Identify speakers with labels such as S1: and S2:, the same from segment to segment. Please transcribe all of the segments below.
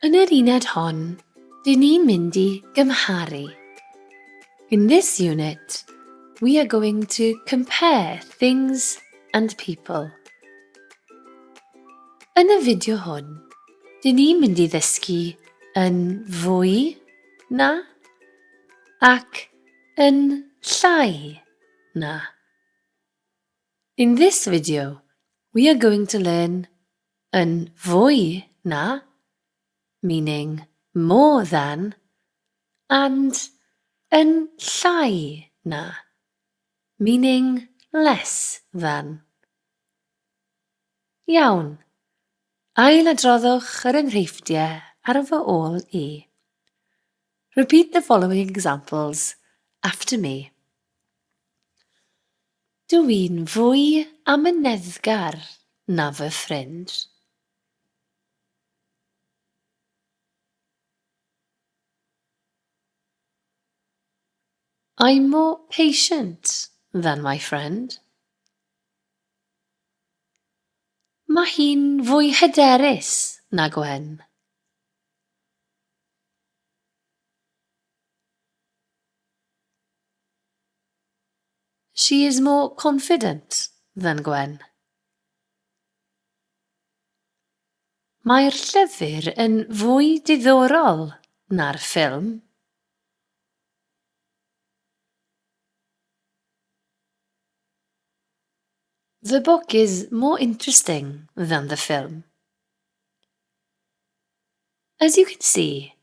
S1: Yn yr uned hon, dyn ni'n mynd i gymharu. In this unit, we are going to compare things and people. Yn y fideo hwn, dyn ni'n mynd i ddysgu yn fwy na ac yn llai Na. In this video, we are going to learn yn fwy na, meaning more than, and yn llai na, meaning less than. Iawn. Ailadroddwch yr enghreifftiau ar fy ôl i. Repeat the following examples after me. Dw i'n fwy amyneddgar na fy ffrind. I'm more patient than my friend. Mae hi'n fwy hyderus na Gwen. She is more confident than Gwen. Mae'r llyfr yn fwy diddorol na'r ffilm. The book is more interesting than the film. As you can see,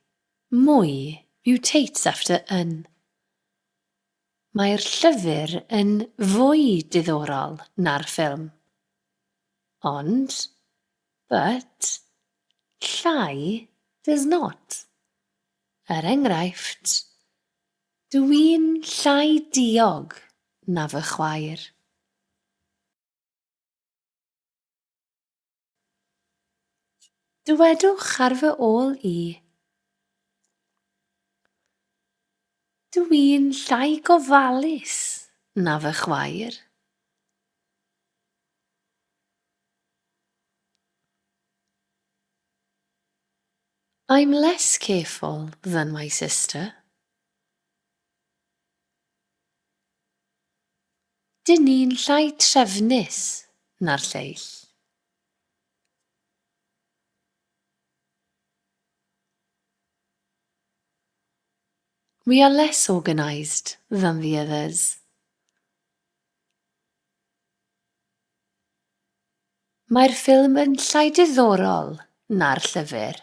S1: mwy mutates after yn. Mae'r llyfr yn fwy diddorol na'r ffilm. Ond, but, llai does not. Er enghraifft, dw i'n llai diog na fy chwaer. Dywedwch ar fy ôl i. Dw i'n llai gofalus na fy chwaer. I'm less careful than my sister. Dŷn ni'n llai trefnus na'r lleill. We are less organised than the others. Mae'r ffilm yn llai diddorol na'r llyfr.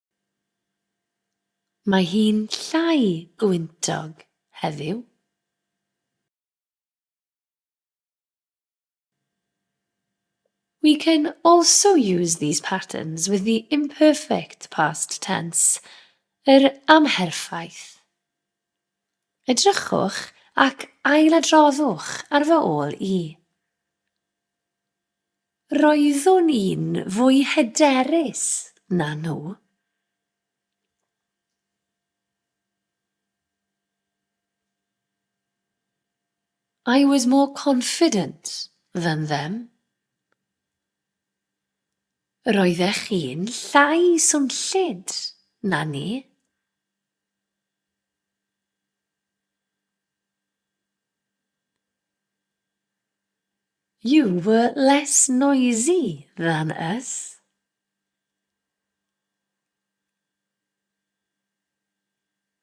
S1: Mae hi'n llai gwyntog heddiw. We can also use these patterns with the imperfect past tense, yr amherffaith. Edrychwch ac ailadroddwch ar fy ôl i. Roeddwn i'n fwy hyderus na nhw. I was more confident than them. Roeddech chi'n llai swnllyd na ni. You were less noisy than us.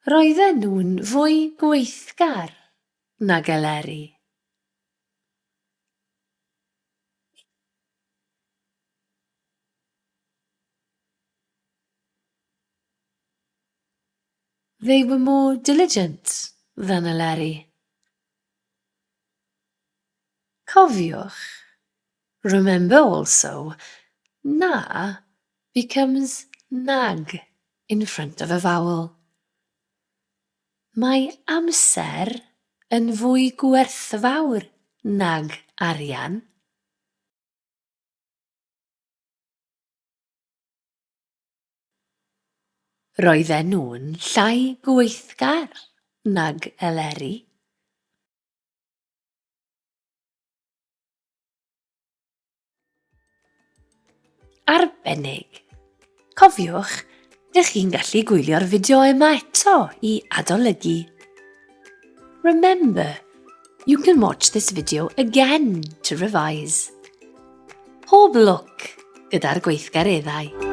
S1: Roedden nhw'n fwy gweithgar nag Eleri. They were more diligent than Eleri. Cofiwch, remember also, na becomes nag in front of a vowel. Mae amser yn fwy gwerthfawr nag arian. Roedden nhw'n llai gweithgar nag Eleri. Arbennig! Cofiwch, dych chi'n gallu gwylio'r fideo yma eto i adolygu. Remember, you can watch this video again to revise. Pob lwc gyda'r gweithgareddau.